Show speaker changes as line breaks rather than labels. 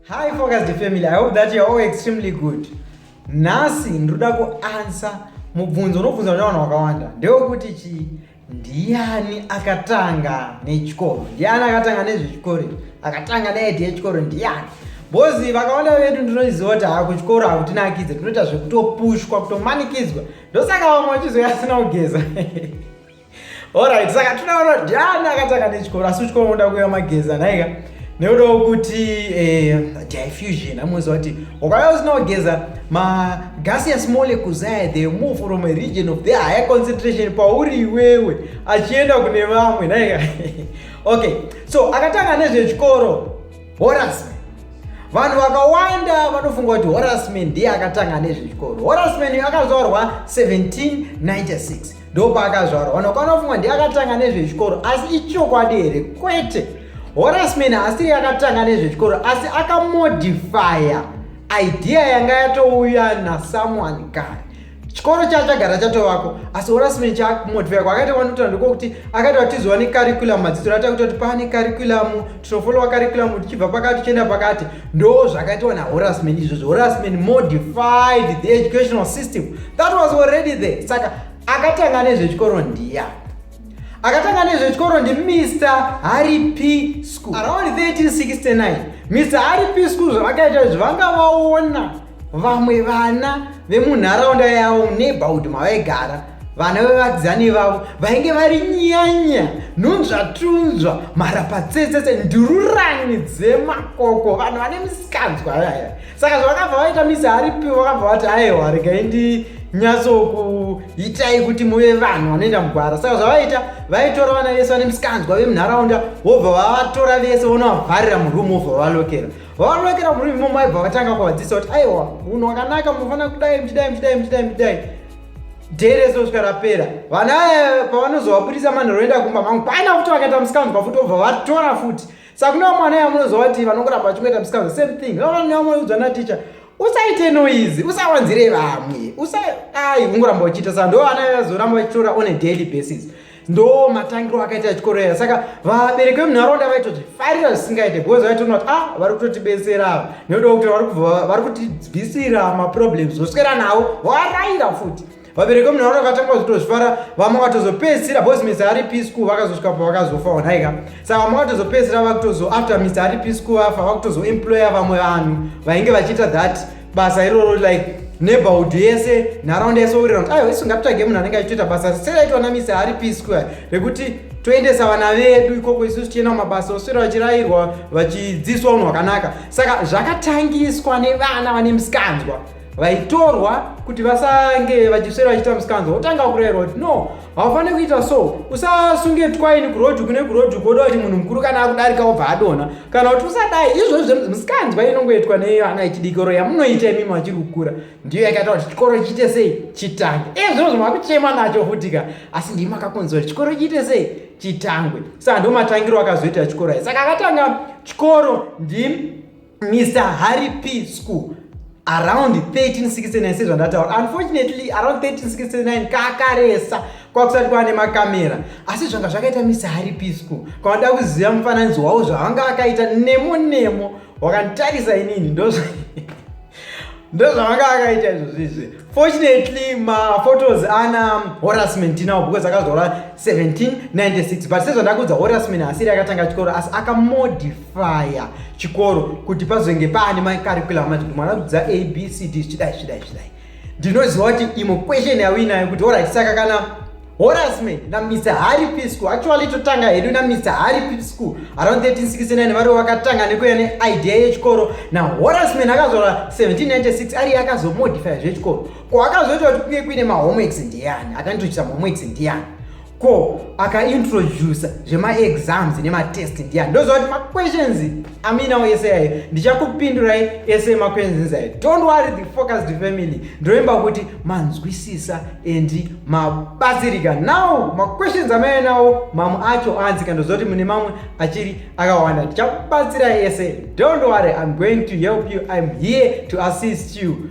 Hi focused family, I hope that you are all extremely good. Nhasi ndinoda kuansa mubvunzo unobvunza nevanhu vakawanda ndewekuti chii ndiani akatanga nechikoro ndiani akatanga nezvechikoro akatanga neidi yechikoro ndiani bozi vakawanda vedu ndinoziva kuti haa kuchikoro hakutinakidze tinoita zvekutopushwa kutomanikidzwa ndosaka vamwe vachizoya asina kugeza Alright, saka tinoona kuti ndiani akatanga nechikoro asi uchikoro unoda kuya mageza nhaika nekuda kwekuti eh, diffusion amuziva kuti ukauya usina kugeza magaseous molecules aya they move from a region of their higher concentration pauri iwewe achienda kune vamwe nhaika okay so akatanga nezvechikoro horasme vanhu vakawanda vanofunga kuti horasme ndiye akatanga nezvechikoro horasme akazaurwa 1796 ndopaakazvarwa vanhu vakaona funga ndiye akatanga nezvechikoro asi ichokwadi here kwete horasman haasiri akatanga nezvechikoro asi akamodifya idea yanga yatouya nasomeone kare chikoro chaa chagara chatovako asi horasman chakumodifya kwaakaita kwanotoa ndikokuti akaita kuti tizowa necurriculum madzidziro atakuita kuti paane curriculum tinofollowa curriculum tichibva pakati tichienda pakati ndo zvakaitwa nahorasman izvozvo horasman modified the educational system that was already there saka akatanga nezvechikoro ndiya akatanga nezvechikoro ndi mr harry p school around 1369 mr harry p school zvavakaita izvi vanga vaona vamwe vana vemunharaunda yavo neighborhood mavaigara vana vevakidzani vavo vainge vari nyanya nhunzvatunzva mharapatsetsetse ndururani dzemakoko vanhu vane misikanzwa yaya saka zvavakabva vaita misi aripi vakabva vati aiwa regai ndi nyatsokuitai kuti muve vanhu vanoenda mugwara saka zvavaita vaitora vana vese vane misikanzwa vemunharaunda vobva vavatora vese vonovavharira murumu vobva vavalokera vavanowekera murimi imomo aibva vatanga kuvadzisa kuti aiwa munhu wakanaka munofanira kudai muchidai muchidai muchidai muchidai day reso svika rapera vana aya pavanozovabudisa manhoroenda kumba mangu paina futi vakaita musikanzwa futi obva vatora futi saka kune vamwana aya munozova kuti vanongoramba vachingoita musikanzwa same thing vavanhu vamwe udzwa naticha usaite noizi usawanzire vamwe usa ai ungoramba uchiita saka ndo vana vazoramba vachitora on a daily basis ndo matangiro akaita chikoro aya saka vabereki vemunharaunda vaitoti farira zvisingaite because vaitoona kuti ah vari kutotibetsera ava nekuda kuti vari kutibvisira maproblems voswera nawo varayira futi vabereki vemunharaunda vakatanga kuzotozvifara vamwe vakatozopedzisira bcause misi ari p school vakazosvika pa vakazofa onaika saka vamwe vakatozopedzisira vakutozo after misi ari p school vafa vakutozoemploya vamwe vanhu vainge vachiita that basa iroro like neighborhood yese nharaunda yese all around ayo isu ngatitsvage munhu anenge achitoita basa seraitwa namisi hari pisqua rekuti toendesa vana vedu ikoko isusu tichienda kumabasa oswera vachirayirwa vachidzidziswa unhu hwakanaka saka zvakatangiswa nevana vane musikanzwa vaitorwa kuti vasange vachiswera vachiita musikanzwa votanga kurayirwa kuti no haufaniri kuita so usasunge twaini kurodhi kune kurodhi koda kuti munhu mukuru kana akudarika obva adona kana kuti usadai izvozvi misikanzwa inongoitwa nevana yechidikoro yamunoita imimi vachiri kukura ndiyo yakaita kuti chikoro chiite sei chitangwe e zvino zvo makuchema nacho futi ka asi ndii makakonzwa kuti chikoro chiite sei chitangwe saka ndo matangiro akazoita chikoro ai saka akatanga chikoro ndi mr harry p school around 1369 sezvandataura unfortunately around 1369 kakaresa kwakusati kwava nemakamera asi zvanga zvakaita misari pisco kwavanoda kuziva mufananidzo wavo zvavanga vakaita nemo nemo wakanditarisa inini ndozva ndozvavanga vakaita izvozvizvi fortunately maphotos ana horasman tinawo because akazora 1796 but sezvandakuudza horasman asiri akatanga chikoro asi akamodif fire chikoro kuti pazonge paane macurriculum ati kuti mwana kudzidza abcd zvichidai zvichidai zvichidai ndinoziva kuti imwe question yauinayo kuti orit saka kana horasme namr harry p school actually totanga hedu namr harry p school around 1369 vari vakatanga nekuya neidea yechikoro nahorasman akazora 1796 ariye akazomodifya zvechikoro ko akazoita kuti kunge kuine mahomeworks ndiyani akanitochisa mahomeworks ndiyani ko akaintroduce zvemaexams nematest ndiya ndoziva kuti maquestions aminawo ese ayo ndichakupindurai ese maquestions ayo don't worry the focused family ndoimba kuti manzwisisa and mabatsirika now maquestions amaya nawo mamwe acho anzika ndoziva kuti mune mamwe achiri akawanda ndichakubatsirai ese don't worry iam going to help you iam here to assist you